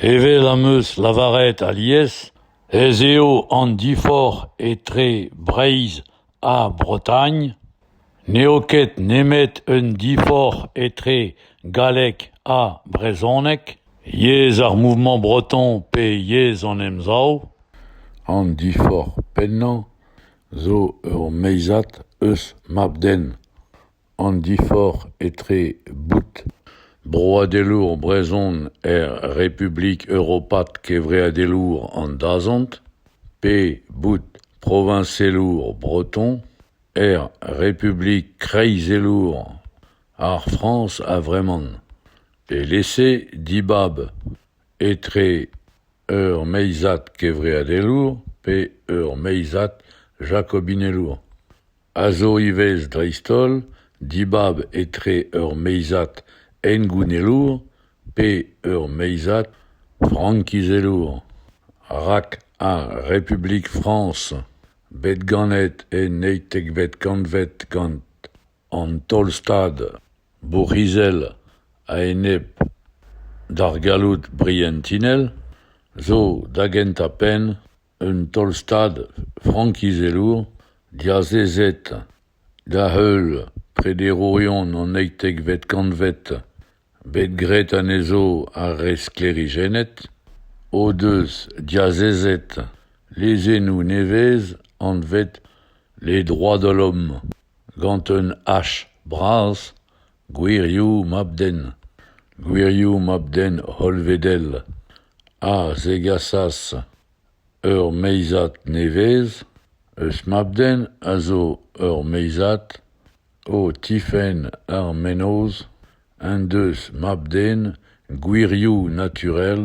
Evel am eus lavaret alies ez eo an diforc'h etre Breizh ha Bretagne n'eo ket nemet un diforc'h etre galleg ha brezhoneg, yezh ar mouvement breton pe yezh an Emsav. An diforc'h pennañ zo ur meizad eus mab-den. an diforc'h etre bout broadelour brezhon er Republik europat kevreadelour an dazont pe bout proviñselour breton er Republik kreizelour ar Frañs a-vremañ e-lese dibab etre ur meizad kevreadelour pe ur meizad jakobinelour. a zo ivez dreist-holl dibab etre ur meizad hengounellour pe ur meizad frankizelour, rak ar Republik Frañs, bet ganet en eizhtekvet kantved gant an Taol-Stad bourc'hizel a-enep d'ar galloud brientinel, zo da gentañ-penn Un taol-stad frankizelour diazezet da-heul prederourion an eizhtekvet kantved bet graet anezho ar re sklêrijennet o deus diazezet lezennoù nevez anvet Les droits de l'homme gant un H bras Gwirioù mab-den, gwirioù mab-den hollvedel, a zegasas ur meizad nevez eus mab-den a zo ur meizad o tifenn ar mennozh en deus mab-den gwirioù naturel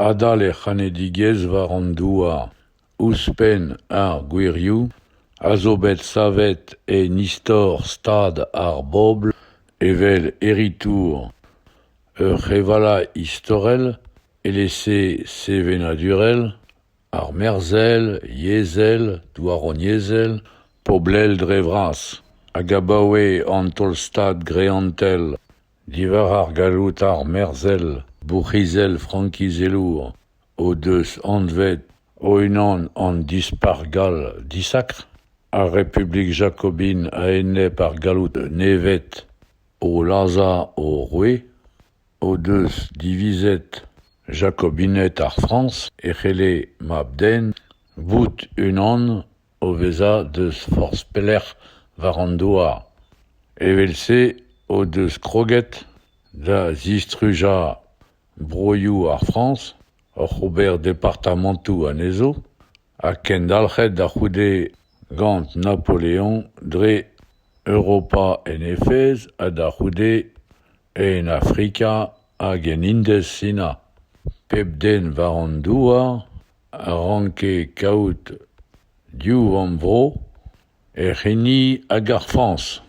adal e c'hanedigezh war an douar. Ouzhpenn ar gwirioù a zo bet savet en istor stad ar bobl evel heritour ur c'hevala istorel etre sevenadurel, armerzhel, yezhel, douaroniezhel, poblel dre vras, hag abaoe an taol-stad greantel diwar ar galloud armerzhel, bourc'hizel frankizelour. o deus anvet o-unan an Dispac'h gall disakr, ar Republik jakobin a-enep ar galloud nevet o lazhañ o roue, o deus divizet Jakobined ar Frañs e c'helle mab-den bout unan o vezañ deus forzh pelec'h war an douar. Evel-se o deus kroget da zistrujañ Broioù ar Frañs, oc'h ober departamantoù anezho, ha kendalc'het da c'houde gant Napoleon dre Europa en Efez ha da c'houde en Afrika hag en Indez-Sina. Pep den war an douar a ranke kaout div vamm-vro. hec'h hini hag ar fañs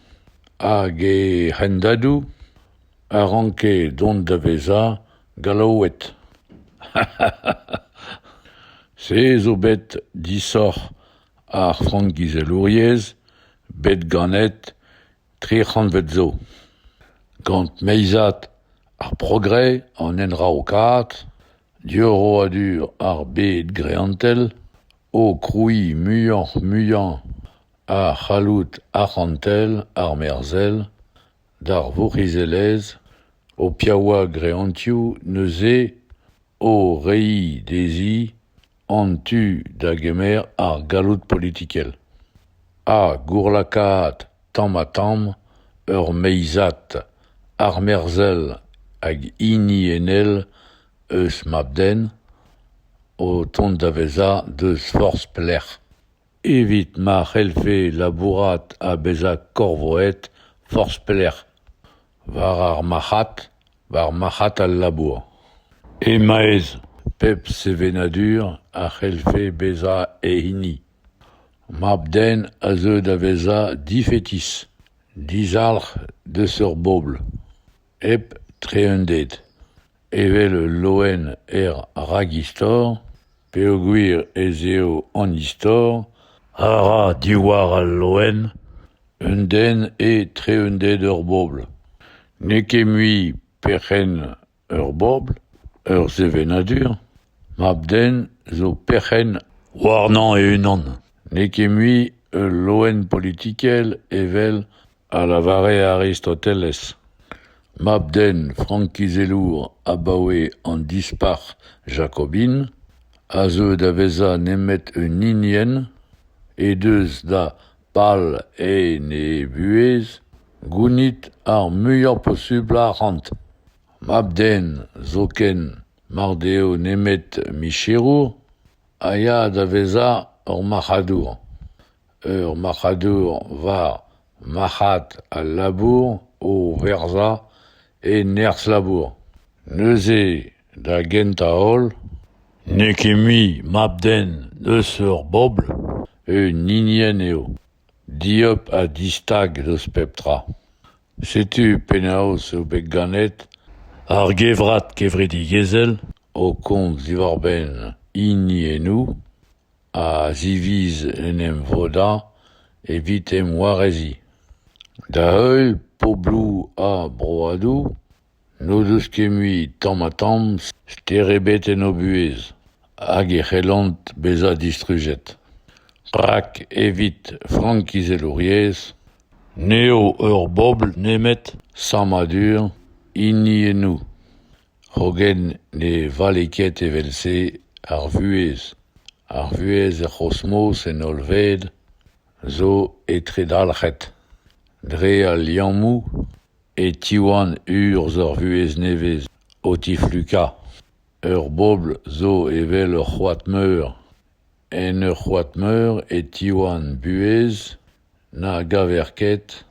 hag he hendadoù a ranke dont da vezañ Gallaoued. Se zo bet disoc'h ar frankizelouriezh bet ganet tri c'hantved zo. Gant meizad ar progrès an enraokaat, diorroadur ar bed greantel, o krouiñ muioc'h-muiañ a c'halloud arc'hantel armerzhel d'ar vourc'hizelezh o piaouañ greantioù neuze o reiñ dezhi an tu da gemer ar galloud politikel ha gourlakaat tamm-ha-tamm ur meizad armerzhel hag hiniennel eus mab-den o tont da vezañ deus forzh pelec'h. Evit ma c'hellfe labourat ha bezañ korvoet forzh pelec'h, war ar marc'had, war marc'had al labour. E-maez pep sevenadur a c'hellfe bezañ e hini. Mab-den a zeu da vezañ difetis, dizalc'h deus ur bobl. Hep treunded, evel ul loen er ragistor, peogwir ez eo an istor a ra diwar al loen un den e treunded ur bobl. N'eo ket mui perc'henn ur bobl, ur sevenadur. Mab-den zo perc'henn warnañ e-unan. N'eo ket mui ul loen politikel evel a lavare Aristoteles, mab-den frankizelour abaoe an Dispac'h jakobin, a zeu da vezañ nemet un hinienn he deus da pal en he buhez gounit ar muiañ posubl arc'hant. Mab-den zoken mar deo nemet micherour a ya da vezañ ur marc'hadour. Ur marc'hadour war marc'had al labour o verzañ e nerzh-labour. Neuze, da gentañ-holl, n'eo ket mui mab-den eus ur bobl, un hinienn eo, dieub ha distag eus pep tra. Setu penaos eo bet ganet ar gevrat kevredigezhel o komz diwar-benn hiniennoù. a ziviz en em vodañ evit em wareziñ. Da-heul pobloù ar broadoù n'o deus ket mui tamm-ha-tamm ster ebet en o buhez hag e c'hellont bezañ distrujet. Rak evit frankizelouriezh n'eo ur bobl nemet sammadur hiniennoù. Hogen ne vale ket evel-se ar vuhez. Ar vuhez er c'hosmos en hollved zo etredalc'het. Dre al liammoù e tiwan urzh ur vuhez nevez o tiflukañ. Ur bobl zo evel ur c'hoad-meur. En ur c'hoad-meur e tiwan buhez na gaver ket.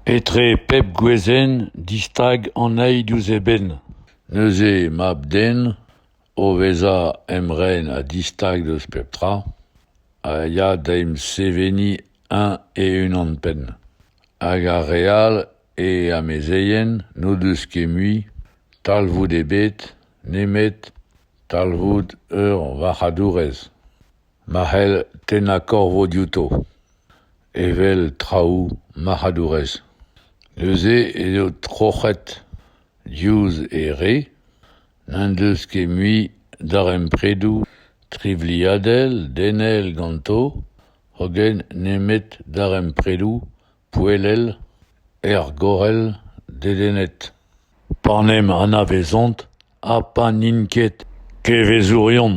Etre pep gwezenn distag an eil diouzh eben. Neuze mab-den o vezañ emren ha distag deus pep tra a ya da emseveniñ eñ e-unan-penn. Hag ar re all, e amezeien, n'o deus ket mui talvoud ebet nemet talvoud ur varc'hadourez ma c'hell tennañ korvo diouto evel traoù marc'hadourez. Neuze ez eo troc'het diouzh e re n'en deus ket mui darempredoù trivliadel denel ganto hogen nemet darempredoù poellel, ergorel, dedennet. Pa n'em anavezont ha pa n'int ket kevezourion.